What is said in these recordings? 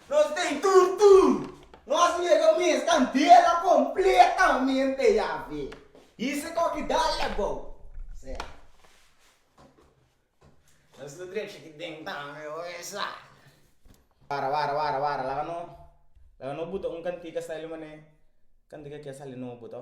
Nos tin tur tur nos mega mes ta ntera completamente Yahvé. Hise cu aki dal e abou. Sea. Nos lo drecha aki den tambe oe sa. Wara wara wara wara laga no laga no buta un cantica sa ele mane cantica aki a sali nobo to.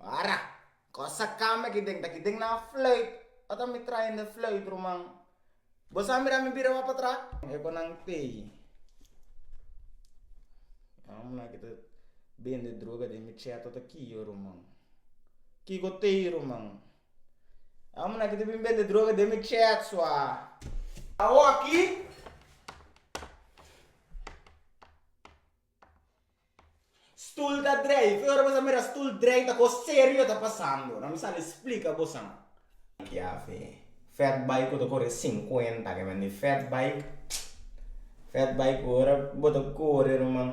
Wara! Cosa cambia aki den? Ta aki den na fluit? Wat a mi trae den fluit, ruman? Bo sa mira mi bira wak patrá? E cu nan tei. Nan aki ta bende droga den mi cheto ta kico, ruman? Kico tei, ruman? Amo nan ki ta bin bende droga den mi chat sua. Awo aki stoel ta drei ki ora bo ta mira stoel drei ta kos serio ta pasando nan mi sali splika bosan kiafe fat bike ku ta kore sinkuenta kimen di fat bike fat bike ku ora bo ta kore ruman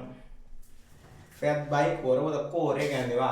fat bike ku ora bo ta kore kende ba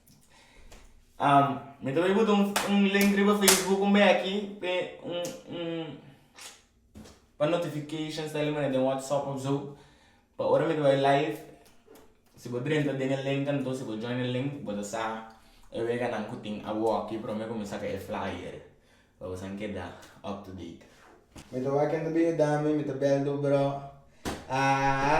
Mi ta bay bota un link riba facebook un beki pa notifications ta haña manera den whatsapp of su pa ora mi ta bay live si bo drenta den e link anto si bo join e link bo ta sa e weganan ku tin awo aki prome ku mi saka e flyer pa bo san keda up to date. Mi ta wak ken ta bin yuda mi mi ta bel do bro aa.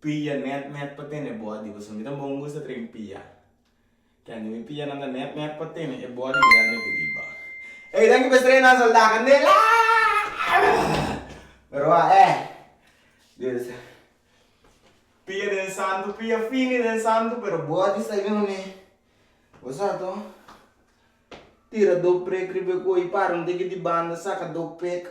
Pia net net pa tene body boso mi tambe un gusta train pia kende mi pia nan ta net net pa tene e body grande di riba ey danki pa estrella nan solda candela pero a eh this pia den santo pia fini den santo pero body sa ini mane bo sa to tira do prek riba e koyo para un tiki di banda saka do pek.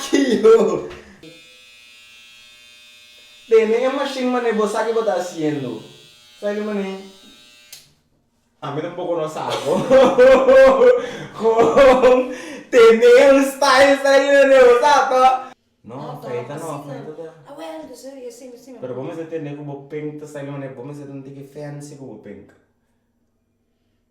Ki yo tene e mashin mané bo sa ki bo ta hasiendo? Saile mané, Ami tampoko no sa bo kon tene un style saile mané bo sa to. No, feita no, feita ta. Ah well dus e yo simi simi. Pero bo mester tene ku bo pink ta saile mané bo mester ta un tiki fancy ku bo pink.